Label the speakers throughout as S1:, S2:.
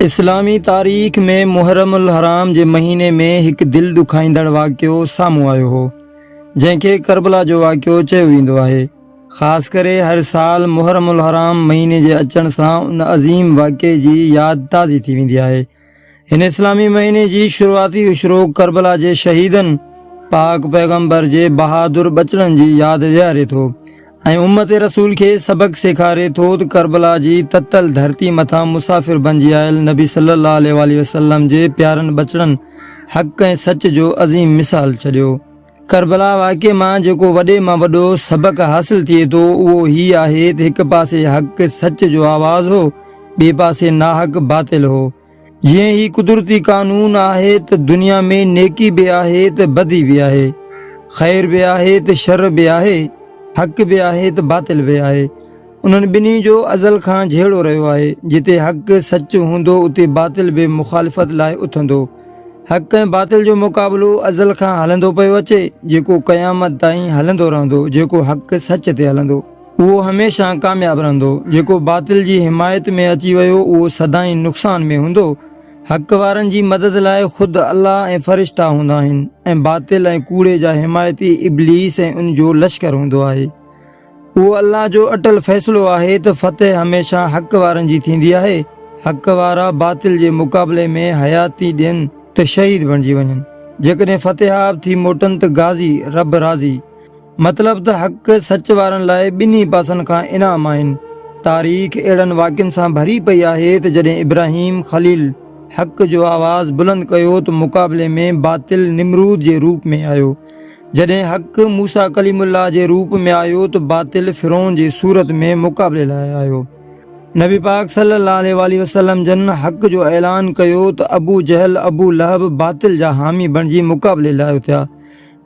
S1: اسلامي تاريخ ۾ محرم الحرام جي مهيني ۾ هڪ دل ڏکائيندڙ واقعو سامهون آيو هو جنهن کي ڪربلا جو واقعو چيو ويندو آهي خاص ڪري هر سال محرم الحرام مهيني جي اچڻ سان ان عظيم واقعي جي ياد تازي ٿي ويندي آهي هن اسلامي مهيني جي شروعاتي اشرو ڪربلا جي شهيدن پاڪ پيغمبر جي بهادر بچڙن جي ياد ڏياري ٿو ۽ امت رسول کي سبق سيکاري ٿو ته ڪربلا جي تتل ڌرتي مٿان مسافر بنجي آيل نبي صلي الله عليه وسلم جي پيارن ٻچڙن حق ۽ سچ جو عظيم مثال ڇڏيو ڪربلا واقعي مان جيڪو وڏي مان وڏو سبق حاصل ٿئي ٿو اهو هي آهي ته هڪ پاسي حق سچ جو آواز هو ٻئي پاسي ناحق باطل هو جيئن هي قدرتي قانون آهي ته دنيا ۾ نيڪي به آهي ته بدي به آهي خير به آهي ته شر به آهي حق به آهي ته باطل به آهي انهن ٻنهي جو ازل کان جهيڙو رهيو آهي، جتي حق، سچ، هوندو اتي باطل به مخالفت لاء اٿندو. حق ۽ باطل جو مقابلو ازل کان هلندو پيو اچي، جيڪو قيامت تائين هلندو رهندو، جيڪو حق، سچ، تي هلندو، اهو هميشه ڪامياب رهندو، جيڪو باطل جي حمايت ۾ اچي ويو اهو سدائين نقصان ۾ هوندو، حق وارن جي مدد لاء خود الله ۽ فرشتا هوندا آهن ۽ باطل ۽ ڪوڙي جا حمايتي ابليس ۽ ان جو لشڪر هوندو آهي. اهو الله جو اٽل فيصلو آهي ته فتح هميشه حق وارن جي ٿيندي آهي، حق وارا باطل جي مقابلي ۾ حياتي ڏين ته شهيد بڻجي وڃن، جيڪڏهن فتحياب ٿي موٽن ته غازي، رب راضي. مطلب ته حق سچ وارن لاء ٻنهي پاسن کان انعام آهن. تاريخ اهڙن واقعن سان ڀري پئي آهي ته جڏهن ابراهيم خليل حق جو آواز بلند ڪيو ته مقابلي ۾ باطل نمرود جي روپ ۾ آيو. جڏهن حق موسيٰ ڪليم الله جي روپ ۾ آيو ته باطل فرعون جي صورت ۾ مقابلي لاء آيو. نبي پاڪ صلي الله عليه واٰله وسلم جن حق جو اعلان ڪيو ته ابو جهل ابو لهب باطل جا حامي بڻجي مقابلي لاء اٿيا.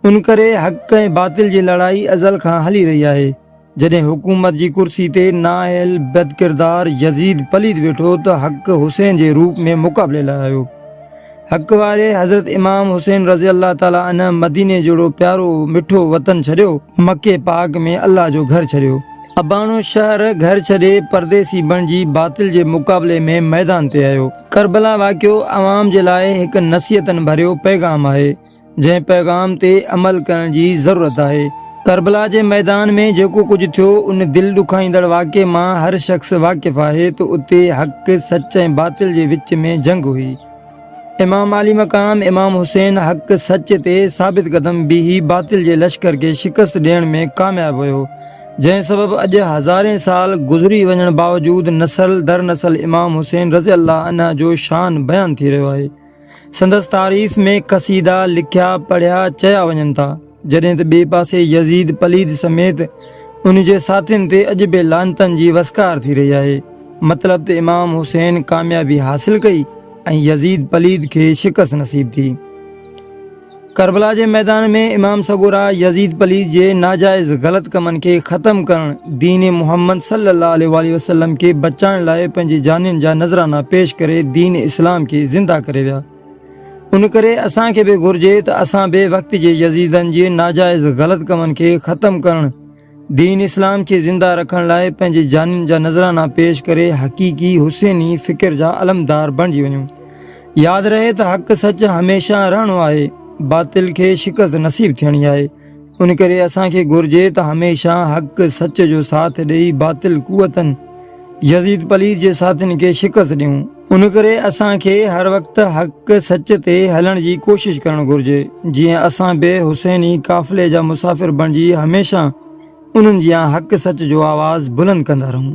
S1: ان ڪري حق ۽ باطل جي لڙائي ازل کان هلي رهي آهي. جڏهن حڪومت جي ڪرسي تي نااهل بدڪردار يزيد پليد ويٺو ته حق حسين جي روپ ۾ مقابلي لاء آيو. حق واري حضرت امام حسين رضي الله تعاليٰ عنه مديني جهڙو پيارو مٺو وطن ڇڏيو، مڪي پاڪ ۾ الله جو گهر ڇڏيو، اباڻو شهر گهر ڇڏي پرديسي بڻجي باطل جي مقابلي ۾ ميدان تي آيو. ڪربلا واقعو عوام جي لاء هڪ نصيحتن ڀريو پيغام آهي. جنهن پيغام تي عمل ڪرڻ جي ضرورت آهي. ڪربلا جي ميدان ۾ جيڪو ڪجهه ٿيو ان دل ڏکائيندڙ واقعي مان هر شخص واقف آهي ته اتي حق، سچ ۽ باطل جي وچ ۾ جنگ هئي. امام عالي مقام امام حسين حق، سچ تي ثابت قدم بيهي باطل جي لشڪر کي شڪست ڏيڻ ۾ ڪامياب ويو جنهن سبب اڄ هزارين سال گذري وڃڻ باوجود نسل در نسل امام حسين رضي الله عنه جو شان بيان ٿي رهيو آهي. سندس تعريف ۾ قصيدا لکيا پڙهيا چيا وڃن ٿا، جڏهن ته ٻئي پاسي يزيد پليد سميت ان جي ساٿين تي اڄ به لعنتن جي وسڪار ٿي رهي آهي. مطلب ته امام حسين ڪاميابي حاصل ڪئي ۽ يزيد پليد کي شڪست نصيب ٿي. ڪربلا جي ميدان ۾ امام سڳورا يزيد پليد جي ناجائز غلط ڪمن کي ختم ڪرڻ، دين محمد صلي الله عليه واٰله وسلم کي بچائڻ لاء پنهنجي جانين جا نذرانا پيش ڪري دين اسلام کي زنده ڪري ويا. ان ڪري اسان کي به گهرجي ته اسان به وقت جي يزيدن جي ناجائز غلط ڪمن کي ختم ڪرڻ، دين اسلام کي زنده رکڻ لاء پنهنجي جانين جا نذرانا پيش ڪري حقيقي حسيني فڪر جا علمدار بڻجي وڃون. ياد رهي ته حق سچ هميشه رهڻو آهي، باطل کي شڪست نصيب ٿيڻي آهي، ان ڪري اسان کي گهرجي ته هميشه حق سچ جو ساٿ ڏئي باطل قوتن، يزيد پليد جي ساٿين کي شڪست ڏيون. ان ڪري اسان کي هر وقت حق سچ تي هلڻ جي ڪوشش ڪرڻ گهرجي جيئن اسان به حسيني قافلي جا مسافر بڻجي هميشه انهن جيان حق سچ جو آواز بلند ڪندا رهون.